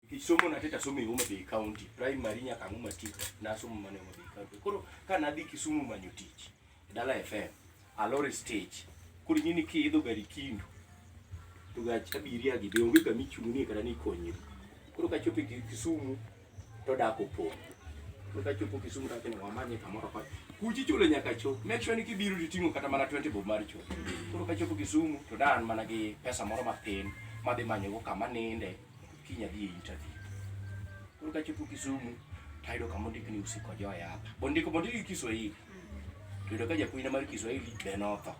Nikech somo na teta somo e Homa Bay County, primary nyaka ang'o matik na somo mana e Homa Bay County. Koro ka nadhi Kisumu manyo tich, e Dala FM, Alore Stage, koro ing'e ni kiidho gari Kindu, to gach abiria gi be onge kama ichung'nie kata ni ikonyri. Koro kachopo e Kisumu, to dak opong'. Koro kachopo Kisumu to awacho ni wamanye kamoro koni. Kuchi chulo nyaka chop. Make sure ni kibiro to iting'o kata mana 20 bob mar chop. Koro kachopo Kisumu, to da an mana gi pesa moro matin madhi manyogo kama ninde. Kiny adhi e interview. Koro kachopo Kisumu, tayudo kama ondik ni usiko joya hapa. Bondiko bondiko gi Kiswahili. Yudo ka japuonjna mar Kiswahili be notho.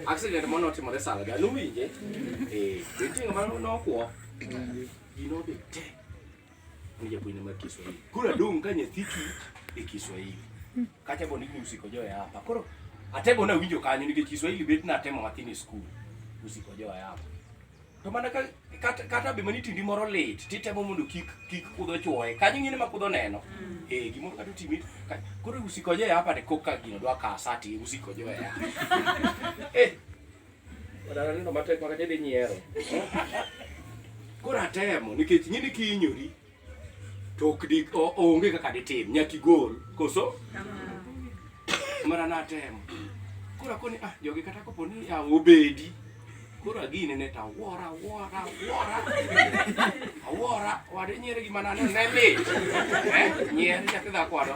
Accident mono timore sala ga nuwinje. Eh, nitie ng'ama nokwo. Gino be te. Ngoja kuina maki Kiswahili. Kula dung kanye thiki e Kiswahili. Kata boni ni usikojoe hapa. Koro atebo na winjo kanyo ni Kiswahili bet na atemo matini school. Usikojoe hapa. To mana ka kata kata be mani tindi moro lit titemo mondo kik kik kudho chuoye. Kanyo ngine ma kudho neno. Mm. Eh gimoro kata timi. Koro usikojoe hapa de koka gino dwa ka sati usikojoe hapa. Eh Wadala nindo matek maka chedi nyiero. Koro atemo nikech ing'e ni kihinyori to ok di o- onge kaka ditim nyaka igol koso mana natemo koro akoni ah jogi kata kopo ni ah, obedi koro agine ne to awora awora awora awora wade nyiere gima nane ne lit Eh, nyiere nyathi dhako wado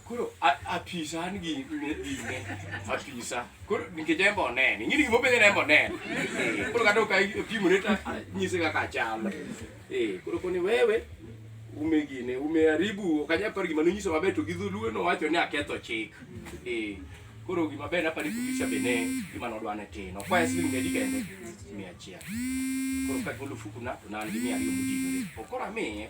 Koro apisa an gi dine apisa. Koro nikech en be onene. Ing'e ni gima openjo en be onene. Koro kata ok apimone to nyise kaka achalo. Eh, koro koni wewe ume gine, ume aribu, ok anyal paro gima nonyiso maber to gi dholuo nowacho ni aketho chik. Eh, Koro gima ber napari kutisha bene gima nodwa ne tino. Kwa yasi ni ngedi kende mia chia. Koro ka golo fuku na to nani mia riyo mudinore. Okora me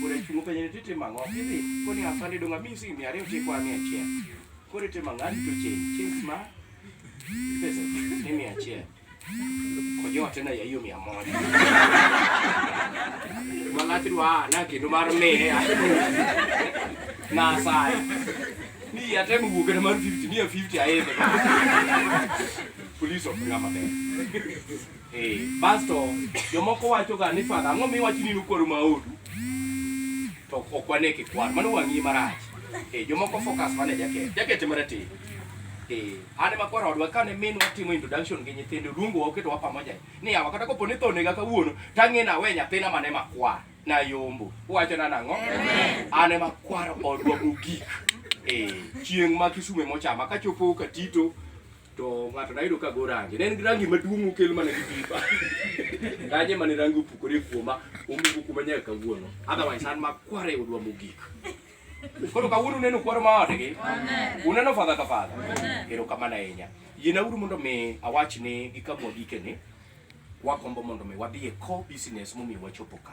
kore chungo penye ni tete mango. Kidi koni afande donga mi si mia riyo tikwa mia chia. Kore te mangani to chen. Chen ma pesa ni mia chia. Kojoa tena ya hiyo mia moja. Malati dwa na kindu mar mia. Na sai. Ni ya temu buke na mar 50, ni ya 50 aende. Police of Ngama Bay. Eh, basto jomoko wacho ga ni fadha ang'o miwacho ni nukwaro maodu to ok wane kikwar mano wang'i marach eh, jomoko focus mane jaket jaket marateng eh Ane makwar odwa kane min watimo introduction gi nyithindo luongo waketo wa pamoja ni awa kata kopo ni tho nega kawuono tang'e na we nyathina mane makwar na yombo uwacho na nang'o ane makwar odwa mogik eh chieng' ma kisume mochama kachopo katito to ng'ato nayudo ka go rangi ne en gi rangi maduong' okel mana gi pipa kanye mane rangi opukore kuoma omuko kuma nyaka kawuono otherwise an makware odwa mogik koro kawuono uneno kwaro ma odgi uneno fadha ka fadha erokamano ahinya yiena uru mondo mi awach ni gi kamwa gikeni wakombo mondo mi wadhi e core business momiyo wachopo ka